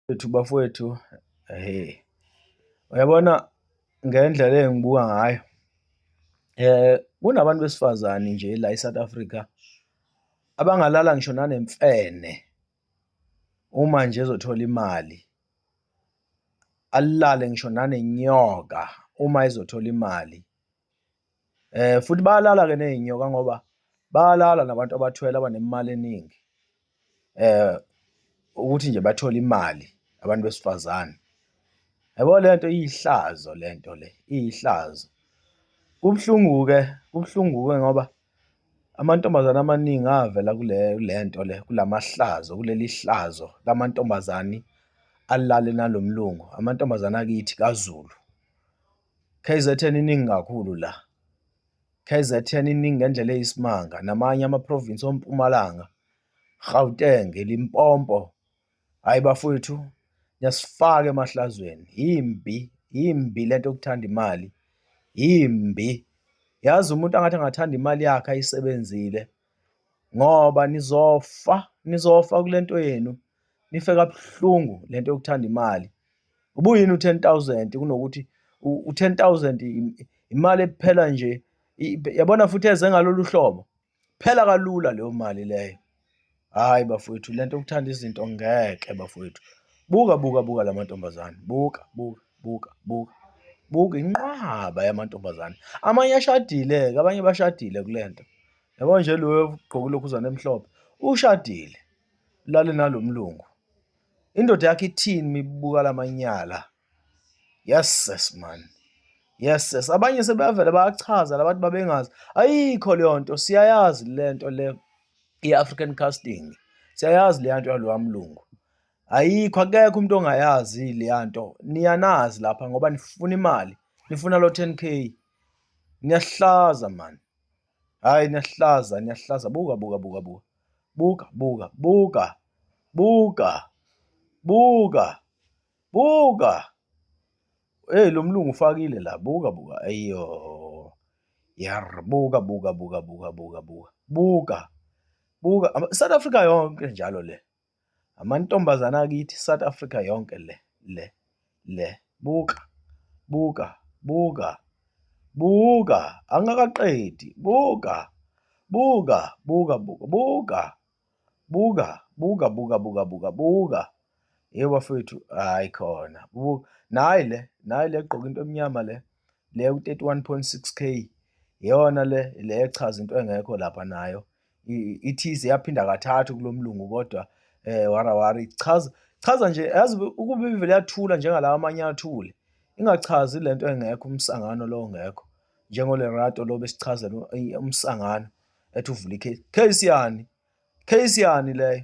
Wethu bafowethu hee, uyabona ngendlela engibuka ngayo kunabantu besifazane nje la e-South Africa abangalala ngisho nanemfene uma nje ezothola imali, alale ngisho nanenyoka uma ezothola imali. Eh futhi bayalala ke nezinyoka ngoba bayalala nabantu abathwele abanemali eningi. Eh ukuthi nje bathole imali abantu besifazane. Yabo lento iyihlazo lento le, iyihlazo. Kubuhlungu ke, kubuhlungu ke ngoba amantombazane amaningi avela kule lento le kulamahlazo kuleli hlazo lamantombazane alale nalomlungu amantombazane akithi kaZulu. KZN iningi kakhulu la. KZN iningi ngendlela eyisimanga namanye amaprovinsi ompumalanga, Gauteng, Limpopo. Hayi bafowethu niyasifaka emahlazweni. Yimbi, yimbi lento yokuthanda imali. Yimbi. Yazi umuntu angathi angathanda imali yakhe ayisebenzile ngoba nizofa, nizofa kule nto yenu. nife kabuhlungu le nto yokuthanda imali ubuyini u-ten thousand kunokuthi u-ten thousand imali ephela nje yabona futhi eze ngalolu hlobo phela kalula leyo mali leyo hhayi bafowethu le nto yokuthanda izinto ngeke bafowethu buka buka buka la mantombazane buka buka buka buka buka inqwaba yamantombazane amanye ashadile-ke abanye bashadile kule nto yabo nje loyo ugqoke ulokhuzana emhlophe ushadile lale nalomlungu indoda yakhe ithini mibuka lamanyala yes sis man yes sis abanye sebeyavela bayachaza labantu babengazi ayikho leyo nto siyayazi le nto le i-african casting siyayazi leya nto yalowa mlungu ayikho akekho umuntu ongayazi leya nto niyanazi lapha ngoba nifuna imali nifuna lo 10 k niyahlaza mani Hayi niyahlaza niyahlaza buka buka buka buka. Buka buka buka. Buka. Buka. Buka. Hey lo mlungu ufakile la buka buka ayo. Yar buka buka buka buka buka buka. Buka. Buka South Africa yonke njalo le. Amantombazane akithi South Africa yonke le le le buka buka buka buka angakaqedi buka buka buka buka buka buka buka buka buka buka buka hey bafethu hayi khona buka nayi le nayi le gqoka into emnyama le le u-31.6k yona le le echaza into engekho lapha nayo ithize yaphinda kathathu kulo mlungu kodwa eh warawari chaza chaza nje yazi ukuba ivele yathula njengalawa amanye athule ingachazi lento engekho umsangano lo ngekho njengolerato lo besichazela umsangano ethi uvula ikhesi khesi yani khesi yani leyo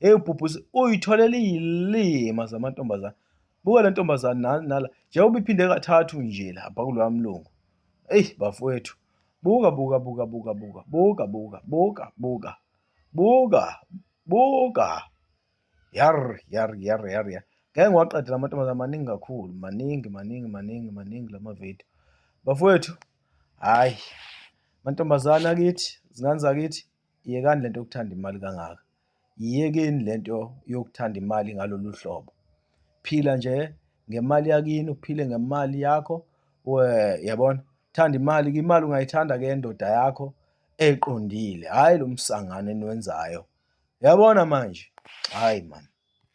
Hey ubhubhu uyitholele izilima zamantombazana. Buka le ntombazane nani nala. Njengoba iphinde kathathu nje lapha kuloya mlungu. Ey bafowethu. Buka buka buka buka buka buka buka buka buka buka buka. Yar yar yar yar yar. Ngeke ngiwaqede la mantombazane maningi kakhulu, maningi maningi maningi maningi la mavidiyo. Bafowethu, hhayi mantombazane akithi, zingane zakithi, Yekani lento yokuthanda imali kangaka. Yiyekeni lento yokuthanda imali ngalolu hlobo. Phila nje ngemali yakini, uphile ngemali yakho. Yabona? Thanda imali, imali ungayithanda ke endoda yakho eqondile, hhayi lo msangano eniwenzayo. Yabona manje? Hhayi mani.